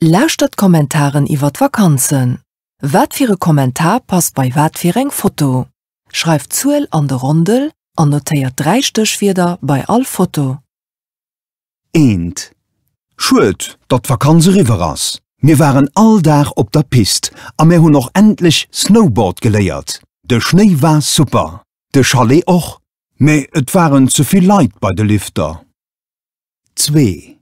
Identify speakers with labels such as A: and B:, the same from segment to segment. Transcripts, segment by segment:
A: Lauschtert d'Kommentaren iwwer d'Vakanzen. Wat fir e Kommentar passt bei wat fir eng Foto? Schreift d'Zuel an de Rondel an notéiert 3 Stéchwierder bei all Foto.
B: Eent. Schued, datt d'Vakanz eriwwer ass. Mir waren all Dag op der Pist a mir hunn och endlech Snowboard geléiert. De Schnéi war super, de Chalet och, mä et waren ze vill Leit bei de Lifter. zwee.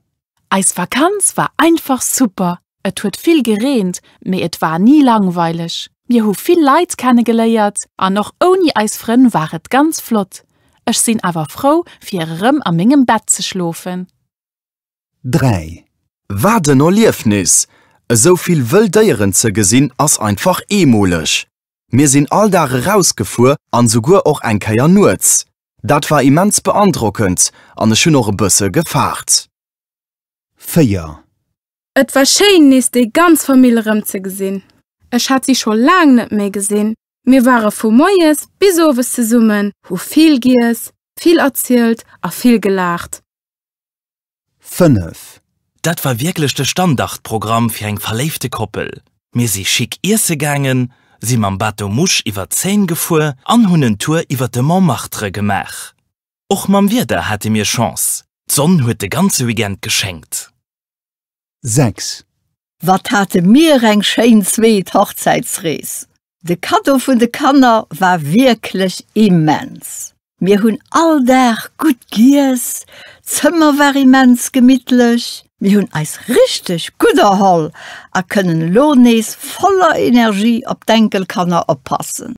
B: Eis
C: Vakanz war einfach super, et huet vill gereent, mee et war ni langweileg. Mir hu vill Leit kenne geléiert an och ouni eis Frënn war et ganz flott. Ech sinn awer frou fir erëm a mengem Bett ze schlofen.
B: Dräi. Wat
D: en Erliefnis! Esou vill wëll Déieren ze gesinn ass einfach eemoleg. Mir sinn all Dag erausgefuer an souguer och eng Kéier nuets. Dat war immens beandrockend an ech hunn och e bësse gefaart.
B: 4. Et
E: war schéin nees déi ganz Famill erëm ze gesinn. Ech hat si scho laang net méi gesinn. Mir ware vu moies bis owes zesummen, hu vill giess, vill erzielt a vill gelaacht. 5.
B: Dat war wierklech
F: de Standardprogramm fir eng verléifte Koppel. Mir si schick iesse gaangen, si mam Bateau Mouche iwwer d'Seine gefuer an hunn en Tour iwwer de Montmartre gemaach. Och mam Wieder hate mir Chance, d'Sonn huet de ganze Weekend geschéngt.
B: 6. Wat
G: hate mir eng schéin zweet Hochzäitsrees! De Kaddo vun de Kanner war wierklech immens. Mir hunn all Dag gutt giess, d'Zëmmer war immens gemittlech, mir hunn eis richteg gutt erholl a kënnen elo nees voller Energie op d'Enkelkanner oppassen.